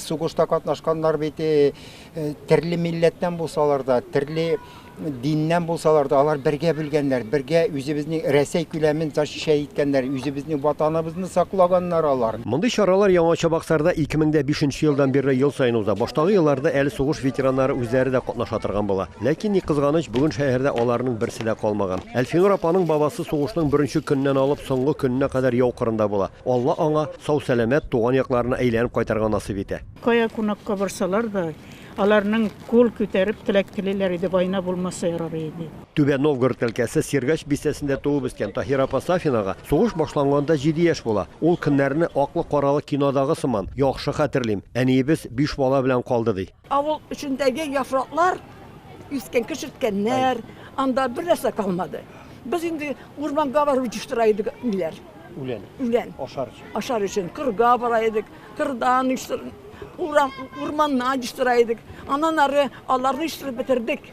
Сугышта катнашканнар бит э, э, төрле милләттән булсалар да, төрле диннән булсалар да, алар бергә бүлгәннәр, бергә үзебезнең Рәсәй күләмен защищай иткәннәр, үзебезнең ватаныбызны саклаганнар алар. Мондый чаралар Яңа Чабаксарда 2005 елдан бирле ел саен уза. Баштагы елларда әле сугыш ветераннары үзләре дә катнаша торган була. Ләкин ни кызганыч, бүген шәһәрдә аларның берсе дә калмаган. Әлфинур апаның бабасы сугышның беренче көннән алып соңгы көненә кадәр яу кырында була. Алла аңа сау-сәламәт туган якларына әйләнеп кайтырга насыйп итә. Кая кунакка барсалар да, аларның кул күтәреп теләк телиләр иде, война булмаса ярар иде. Түбән Новгород өлкәсе Сергач бистәсендә туып үскән Таһир апа Сафинага сугыш башланганда җиде яшь була. Ул көннәрне аклы-каралы кинодагы сыман яхшы хәтерлим, әниебез биш бала белән калды, ди. Авыл эчендәге яфраклар искән, кешерткәннәр, анда бер нәрсә калмады. Без инде урманга барып җыштыра идек миләр. Үлән. Үлән. Ашар өчен. Ашар өчен кырга бара идек, кырдан урам урманнан җыштыра идек. Аннан ары аларны җыштырып бетердек.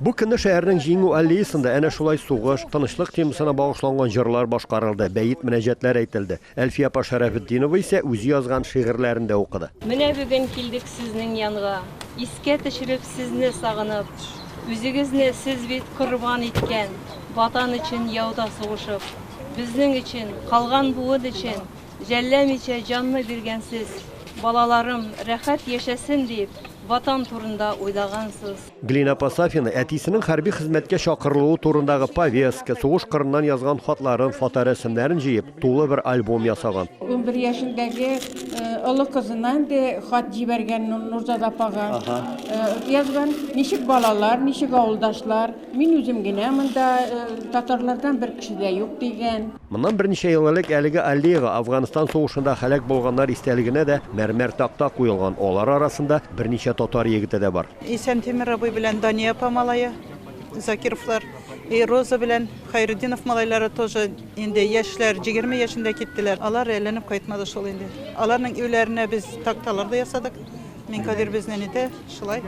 Бу көнне шәһәрнең Җиңү аллеясында әнә шулай сугыш, тынычлык темасына багышланган җырлар башкарылды, бәет-мөнәҗәтләр әйтелде. Әлфия апа Шәрәфетдинова исә үзе язган шигырьләрен дә укыды. Менә бүген килдек сезнең янга, Искә төшереп сезне сагынып. Үзегезне сез бит корбан иткән, Ватан өчен яуда сугышып. Безнең өчен, калган буын өчен, Жәлләмичә җанны биргәнсез. Балаларым рәхәт яшәсен дип, Ватан турында уйлагансыз. Глина апа Сафина әтисенең хәрби хезмәткә чакырылуы турындагы повестка, сугыш кырыннан язган хатларын, фоторәсемнәрен җыеп, тулы бер альбом ясаган. Унбер яшендәге олы кызына инде хат җибәргән Нурзада апага. Язган, ничек балалар, ничек авылдашлар, мин үзем генә монда, татарлардан бер кеше дә юк, дигән. Моннан берничә ел элек әлеге аллеяга Афганстан сугышында һәлак булганнар истәлегенә дә мәрмәр такта куелган, алар арасында берничә татар егете дә бар. Исәнтимер абый белән Дания апа малае, Закировлар, и Роза белән Хәйретдинов малайлары тоже инде яшьләр, җигерме яшендә киттеләр. Алар әйләнеп кайтмады шул инде. Аларның өйләренә без такталар да ясадык. Минкадир безнең иде, шулай.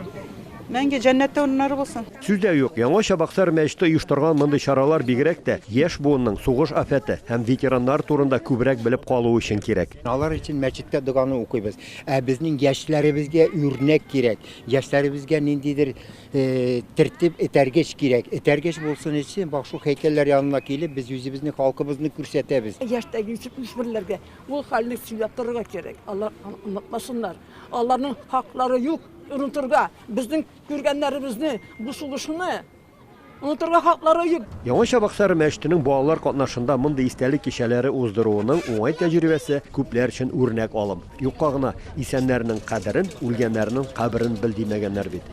Мәңге җәннәттә урыннары булсын! Сүз дә юк, Яңа Чабаксар мәчете оештырган мондый чаралар бигрәк тә яшь буынның сугыш афәте һәм ветераннар турында күбрәк белеп калуы өчен кирәк. Алар өчен мәчеттә доганы укыйбыз. Ә безнең яшьләребезгә үрнәк кирәк. Яшьләребезгә ниндидер тәртип, этәргеч кирәк. Этәргеч булсын өчен вак шул һәйкәлләр янына килеп, без үзебезне, халкыбызны күрсәтәбез. Яшьтәге җитмешберләргә ул хәлне сөйләп торырга кирәк. Алар онытмасыннар. Аларның хаклары юк онытырга. Безнең күргәннәребезне, бу сугышны онытырга хаклары юк. Яңа Чабаксары мәчетенең балалар катнашында мондый истәлек кичәләре уздыруының уңай тәҗрибәсе күпләр өчен үрнәк алым. Юкка гына, Исәннәрнең кадерен, үлгәннәрнең каберен бел, димәгәннәр бит.